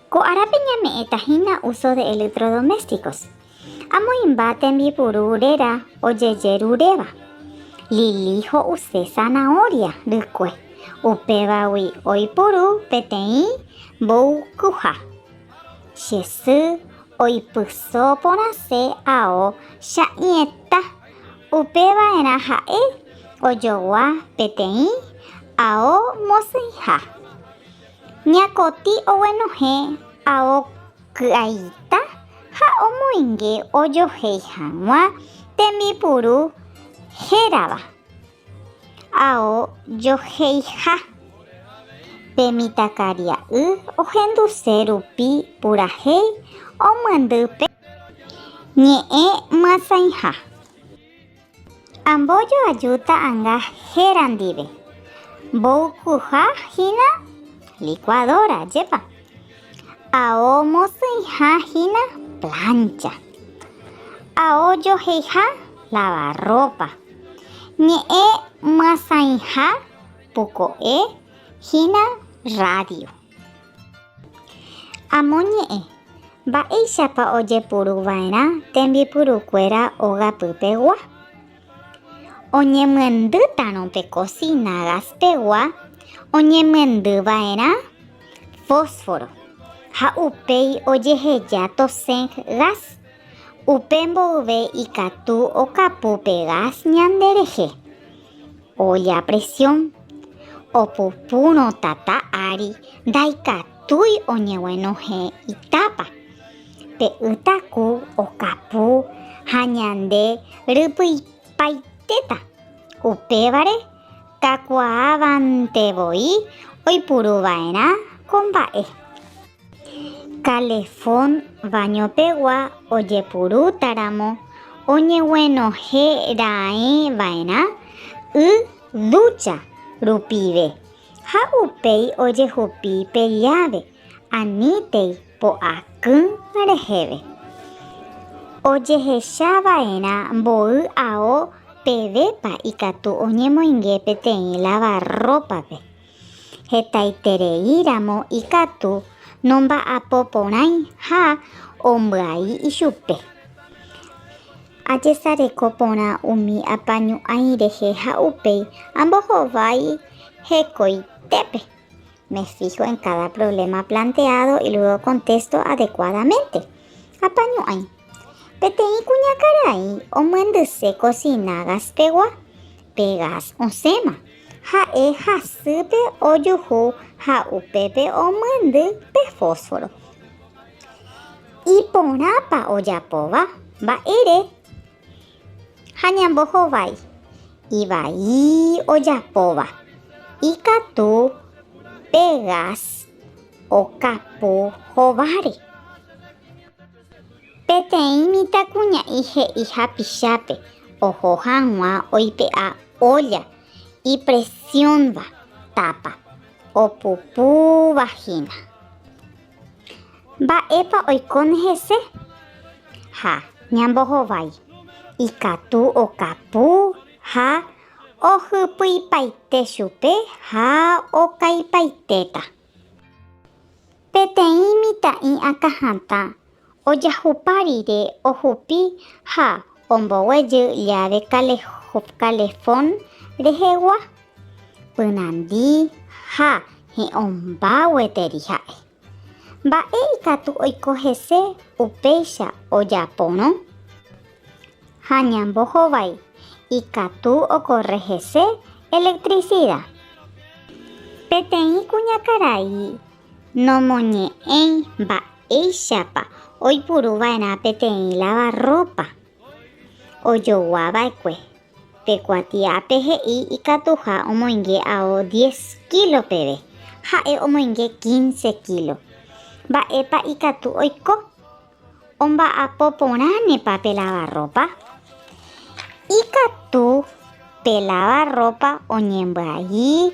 Ko árape ñame'ẽta hína uso de electrodomésticos, amoĩmba tembipuru réra ojejeruréva. Lili ho'use zanahoria rykue, upévagui oipuru peteĩ mboykyha. Che sy oipyso porãse ao cha'ĩeta, upeva'erã ha'e ojogua peteĩ ao mosẽiha. Ñakotĩ oguenohẽ ao ky'aita ha omoinge ojohéi hag̃ua tembipuru hérava ao joheiha. Pe mitãkaria'y ohenduse rupi purahéi omyendy pe ñe'ẽ myasãiha. Ambojo ajúta anga héra ndive. Mboykuha hína licuadora, jepa. Ao mosỹiha hína plancha. Ao joheiha lavarropa. Ñe'ẽ myasãiha puko'e hína radio. Amo ñe'ẽ, Mba'éichapa ojepuruva'erã tembipurukuéra ogapypegua? Oñemyendýtarõ pe kosína gaspegua oñemyendyva'erã fósforo ha upéi ojeheja tosẽ gás. Upe mboyve ikatu okapu pe gás ñanderehe. Oja presión, opupurõ tata ári ndaikatúi oñeguenohẽ itápa. Pe ytaku okapu ha ñande rypyipaitéta. Upévare kakuaavante voi oipuru va'erã ko mba'e. Kalefón vañopegua ojepurútaramo oñeguenohẽ raẽ va'erã y dúcha rupive ha upéi ojehupi pe lláve anítei po'akỹ reheve. Ojehecha va'erã mboy ao pevépa ikatu oñemoinge peteĩ lavarrópape. Hetaiterei ramo ikatu nomba'apo porãi ha ombyai ichupe. Ajesareko porã umi apañu'ãi rehe ha upéi ambohovái hekoitépe. Me fijo en cada problema planteado y luego contesto adecuadamente. Apañu'ãi. Peteĩ kuñakarai omyendyse cocina gas-pegua pe gas osẽma. Ha'e hasýpe ojuhu ha upépe omyendy pe fósforo. Iporãpa ojapóva? Mba'ére ha ñambohovái? Ivai ojapóva, ikatu pe gas okapu hováre. Peteĩ mitãkuña'i he'i hapichápe oho hag̃ua oipe'a ólla ipresiónva tápa opupúva hína. Mba'épa oikóne hese? Ha ñambohovái, ikatu okapu ha ohypyipaite chupe ha okaipaitéta. Peteĩ mitã'i akã hatã ojahupa rire ohupi ha omboguejy llave calefón rehegua, pyrandi ha he'õmba gueteri ha'e. Mba'e ikatu oiko hese upéicha ojaporõ? Ha ñambohovái ikatu okorre hese electricida. Peteĩ kuñakarai nomoñe'ẽi mba'éichapa oipuru va'erã peteĩ lavarrópa. Ojogua va'ekue, pe kuatiápe he'i ikatuha omoinge ao diez kílo peve, ha'e omoinge quince kílo. Mba'épa ikatu oiko? Omba'apo porãnepa pe lavarrópa? Ikatu pe lavarrópa oñembyai,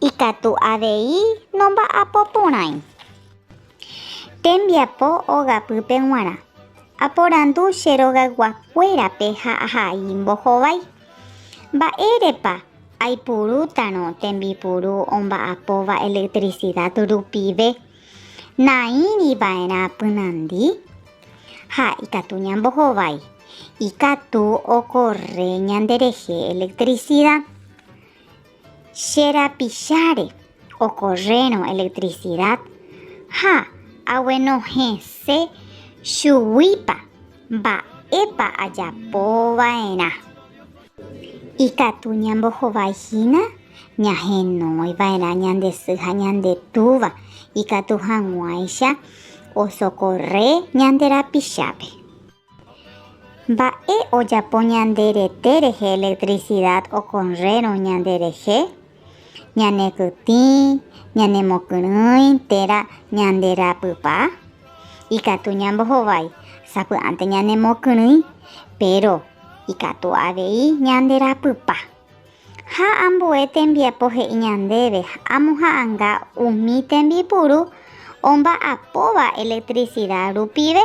ikatu avei nomba'apo porãi. Tembiapo ogapýpe g̃uarã. Aporandu che rogayguakuérape ha ahai mbohovái. Mba'érepa aipurútarõ tembipuru omba'apóva electricidad rupive? Naĩri va'erã pynandi, ha ikatu ñambohovái, ikatu okorre ñanderehe electricidad. Che rapicháre okorrérõ electricidad ha aguenohẽse chuguípa mba'épa ajapo va'erã. Ikatu ñambohovái hína ñahenói va'erã ñande sy ha ñande túva ikatu hag̃uáicha osokorre ñande rapichápe. Mba'e ojapo ñande rete rehe electricidad okorrérõ ñande rehe? ñanekytĩ, ñanemokyrỹi térã ñande rapypa, ikatu ñambohovái sapy'ánte ñanemokyrỹi, péro ikatu avei ñande rapypa. Ha ambue tembiapo he'i ñandéve amoha'anga umi tembipuru omba'apóva elektrisida rupive.